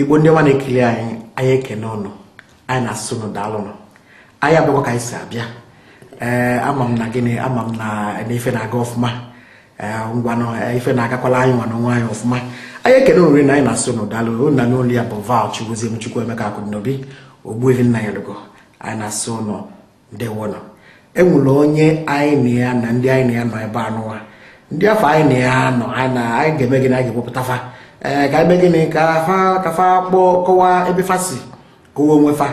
igbo ndị ọma na-ekiri anyị anyị ekene ụnụ anyị na-asị ụnụ daalụnụ anyị abịakwa ka anyị si abịa ee eh, ama m na gịnị ama m na ife na-aga ọfụma eh, ngwanụ eh, ife na-agakwalụ anyị nwa n'onwe anyị ọfụma anyị ekene ụnụ rinne anyị na-asị ụnụ daalụ na n'olu ya bụ val Chigozie Chukwuemeka Akụdịnobi Ogbuefi Nnanyelugo anyị na-asị ụnụ ndewonụ enwere onye anyị na ya na ndị anyị na ya nọ ebe anụwa ndị afụ anyị na ya nọ anyị na anyị ga-eme gịnị anyị ga-ewepụta fa ee ka e mee gịnị ka fa ka fa kpọọ kọwaa ebe fa si kọwa onwe fa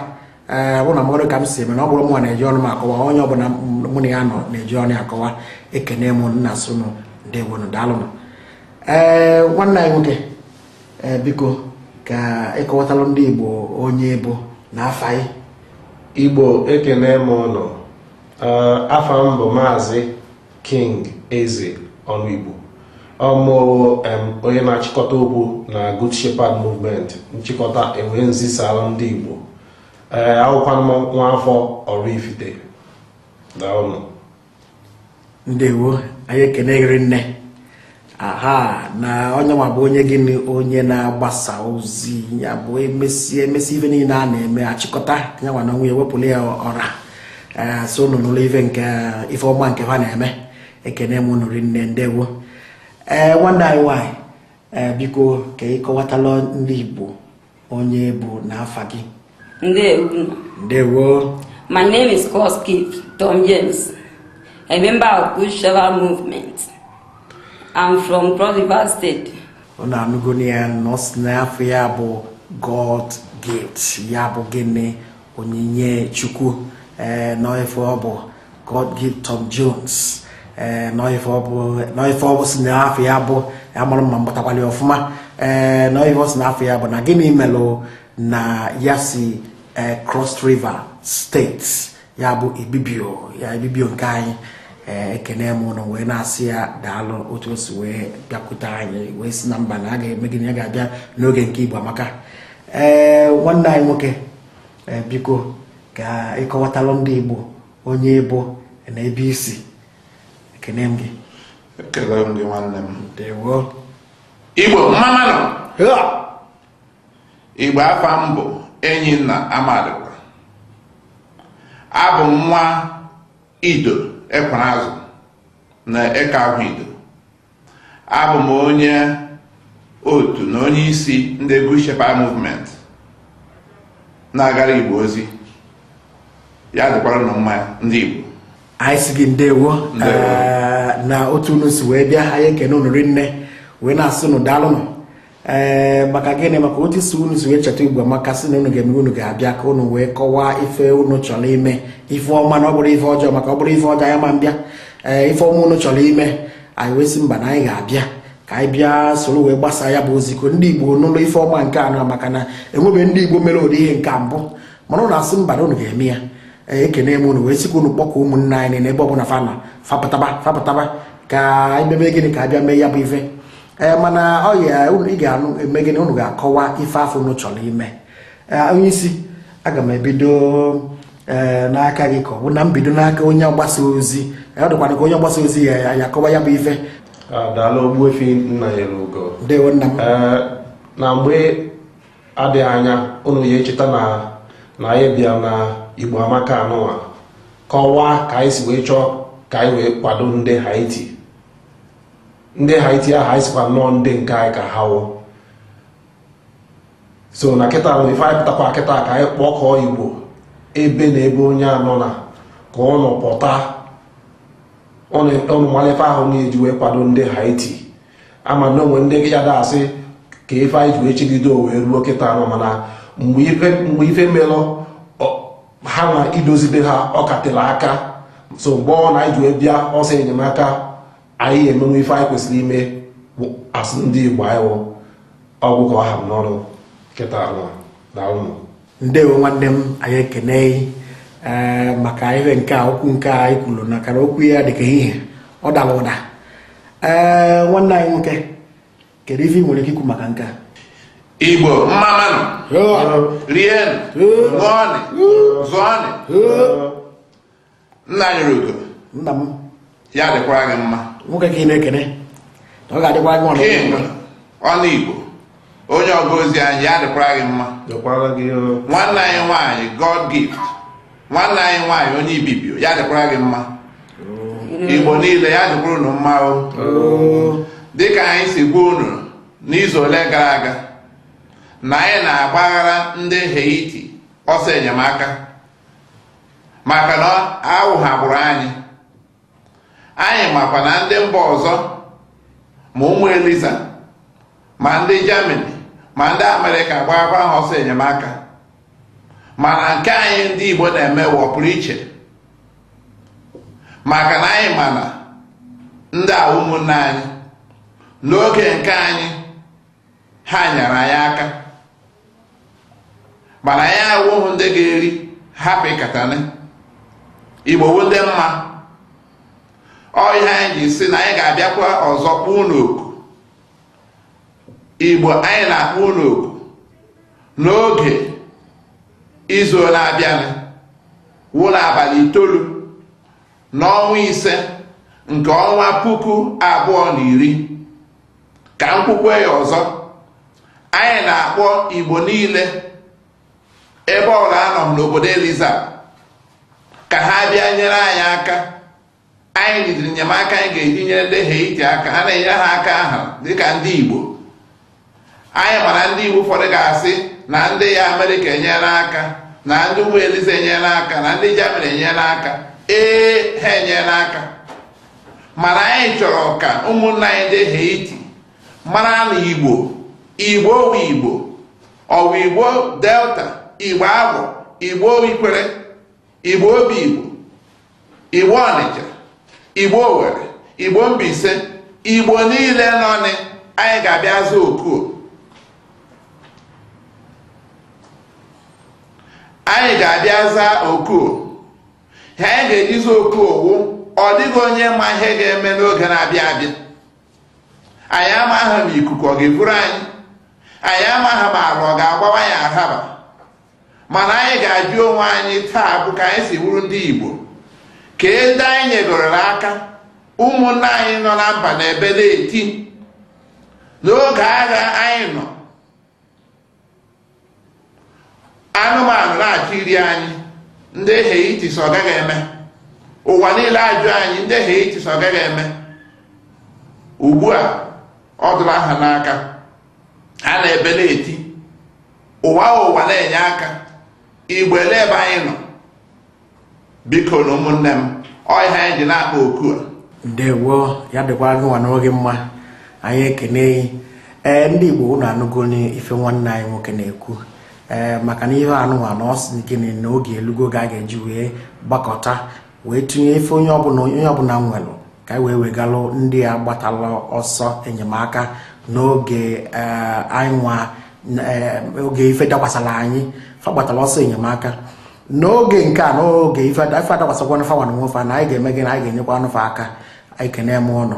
ee bụ na mmadụ ka m si eme na ọ bụrụ mụ na-eji ọnụ m akọwa onye ọbụla mụ na ya nọ na-eji ọnụ ya akọwa ekene m na-asị unu ndewonụ daalụnụ ee nwanne anyị nwoke ee eh, biko ka ị kọwatalụ ndị Igbo onye ị bụ na afa ị Igbo ekene m ụnụ eh, afa m bụ maazị King Eze ọnụ Igbo abụ m onye na-achịkọta okwu na Good Shepherd Movement nchịkọta e wee na-ezisara ndị Igbo ee eh, abụkwanụ m nwa afọ Oraifite daalụnụ ndewo anyị ekene gị rinne aha na onye nwa bụ onye gịnị onye na-agbasa ozi ya bụ e mesịa e mesịa ife niile a na-eme achịkọta ya nwa na onwe ya wepụrụ ya ọra ee sị unu nụrụ ife nke ife ọma nke fa na-eme ekene m unu rinne ndewo ee nwanne anyị nwaanyị ee biko ka ị kọwatalụ ndị igbo onye ị bụ na afa gị ndewo ndewo my name is God's gift Tom James a member of Good Shepherd movement I'm from Cross River State unu anụgo ya na ọ sị na afa ya bụ God's gift ya bụ gịnị onyinye chukwu ee eh, n'ife ọ bụ God's gift tom jones ee eh, n'ife ọ bụ n'ife ọ bụ sị na afa ya bụ amarọ m ma m gbatakwalụ ya ọfụma ee eh, n'ife ọ sị na afa ya bụ na gịnị melụ na ya si cross river state ya bụ ibibio ya ibibio nke anyị ekene m ụnụ wee na-asị ya daalụ otu o si wee bịakwute anyị wee sị na mba na a ga-eme gịnị ya ga-abịa n'oge nke igbo amaka ee eh, nwanne anyị nwoke eh, biko ka ị kọwatalụ ndị Igbo onye ị bụ na ebe i si ekene m gị ekele m gị nwanne m ndewo Igbo mma mma nụ Igbo afa m bụ Enyinna Amadịkwa abụ m nwa ido Ekwerazụ na eke ahụ ido Abụ m onye otu na onye isi ndị Good Shepherd Movement na-agara Igbo ozi ya dịkwara unu mma ndị Igbo anyị sị gị ndewo na otu unu si wee bịa anyị ekene unu rinne wee na-asị unu daalụnụ ee eh, maka gịnị maka otu isi unu si wee cheta ugbu a maka sị na unu ga-eme unu ga-abịa ka unu wee kọwaa ife unu chọrọ ime ife ọma na ọ bụrọ ife ọjọọ maka ọ bụrụ ife ọjọọ a ma m bịa ee eh, ife ọma unu chọrọ ime anyị wee sị mba na anyị ga-abịa ka anyị bịa soro wee gbasa ya bụ ozi ka ndị igbo nụlụ ife ọma nke a na maka na enwebe ndị igbo mere ụdị ihe nke mbụ mana unu asị mba na unu ga-eme ya eh, ekene m unu wee sị ka unu kpọkọ ụmụnne anyị n'ebe ọ bụla fa nọ fa pụtaba fa pụtaba ka anyị mebe gịnị ka a bịa mee ya bụ ife ee mana ọ ya ị ga-anụ eme gịnị unu ga-akọwa ife afụ unu chọrọ ime onye isi aga m ebido n'aka gị ka ọ bụ na m bido n'aka onye mgbasa ozi ọ dịkwa m ka onye mgbasa ozi ya-akọwa ya bụ ife daalụ Ogbuefi Nnanyelugo ndewo nna m na mgbe adịghị anya unu ya-echeta na na anyị bịa na Igbo Amaka anụwa kọwaa ka anyị si wee chọọ ka anyị wee kwado ndị Haiti ndị haiti ahụ anyị sịkwa na ọ ndị nke anyị ka ha wụ so na kịta na ife anyị pụtakwa kịta ka anyị kpọkọọ igbo ebe na ebe onye a nọ na ka ọ nọ pụta ọnụ mara ife ahụ na-eji wee kwado ndị haiti a ma na o nwe ndị ya-ada asị kee ife anyị ji wee chelide o wee ruo kịta nọ mana mgbe ife melụ ha na idozibe ha ọ ka tela aka so mgbe ọ na anyị ji wee bịa ọsọ enyemaka anyị emewe ife anyị kwesịrị ime as ndị Igbo anyị wụ ọ gwụ ka ọ ha m n'ọnụ kịta anụ daalụ ndewo nwanne m anyị ekene eh, maka ihe nke a okwu nke a ị kwuru na kara okwu ya dịka ihe ọ dara ụda ee eh, nwanne anyị nwoke kedu ife ị nwere ike ikwu maka nke a igbo mma mma nụ rienụ ṅụọnụ zụọnụ Nnanyerugo nna m ya dịkwara gị mma nwoke ka ị na-ekene na ọ ga-adịkwara gị ọnụ King Ọnụigbo onye ọga ozi anyị ya dịkwara gị mma dịkwara gị o nwanne anyị nwaanyị god gift nwanne anyị nwaanyị onye ibibio ya dịkwara gị mma igbo niile ya dịkwara unu mma o dịka anyị si gwa unu n'izu ole gara aga na anyị na-agbagara ndị haiti ọsọ enyemaka maka na awụ ha agbụrụ anyị anyị makwa na ndị mba ọzọ ma ụmụ eliza ma ndị Germany ma ndị Amerịka gbakwa ha ọsọ enyemaka mana nke anyị ndị Igbo na-eme wụ ọpụrụ iche maka na anyị ma na ndị a wụ ụmụnne anyị n'oge nke anyị ha nyere anyị aka mana anyị awụghị ndị ga-eri hapụ ịkatana igbo wụ ndị mma ọ ihe anyị ji sị na anyị ga-abịakwa ọzọ kpọọ unu oku igbo anyị na-akpọ unu oku n'oge izu na-abịanụ wụ n'abalị itoolu n'ọnwa ise nke ọnwa puku abụọ na iri ka m kwukwe ya ọzọ anyị na-akpọ igbo niile ebe ọbụla a nọ n'obodo eliza ka ha bịa nyere anyị aka anyị jidere enyemaka anyị ga-eji nyere ndị Haiti aka ha na-enyere ha aka ha dịka ndị igbo anyị mana ndị igbo ụfọdụ ga-asị na ndị amerịka enyere aka na ndị obodo eliza enyere aka na ndị jamani enyere aka ee ha enyere aka mana anyị chọrọ ka ụmụnna anyị ndị Haiti mara na Igbo Igbo wụ Igbo Ọwa Igbo Delta Igbo Agbọ Igbo Ikwere Igbo Obigbo Igbo Ọnịcha Igbo Owere Igbo Mbaise Igbo niile nọ anyị ga-abịa zaa oku ha anyị ga-ejizi oku owu ọ dịghị onye ma ihe ga-eme n'oge na-abịa abịa anyị amaghị ma ikuku ọ ga-eburu anyị anyị amaghị ma ala ọ ga-agbawa anyị adaba mana anyị ga-ajụ onwe anyị taa bụ ka anyị si bụrụ ndị Igbo kee ndị anyị nyegorela aka ụmụnna anyị nọ na mba na-ebe na-eti n'oge agha anyị nọ anụmanụ na-achọ iri anyị ndị Haiti sị ọ gaghị eme ụwa niile ajụ anyị ndị Haiti sị ọ gaghị eme ugbu a ọ dụla ha n'aka ha na-ebe na-eti ụwa ụwa na-enye aka igbo olee ebe anyị nọ bikonụ ụmụnne m ọ ihe anyị ji na-akpọ oku a ndewo ya dịkwa agụnwa n'oge mma anyị ekene gị ndị igbo unu anụgonụ ife nwanne anyị nwoke na-ekwu ee maka na ihe anụnwa na ọ sị gịnị na oge elugo ka a ga-eji wee gbakọta wee tinye ife onye ọbụna nwelụ ka anyị wee wegalụ ndị a gbatala ọsọ enyemaka n'oge ee, anyị nwa ee, oge ife dakwasala anyị fa gbatala ọsọ enyemaka n'oge nke a n'oge ife adakwasakwanụ fa nwa n'onwe fa na anyị ga-eme gị na anyị ga-enyekwanụ fa aka ekene m ụnụ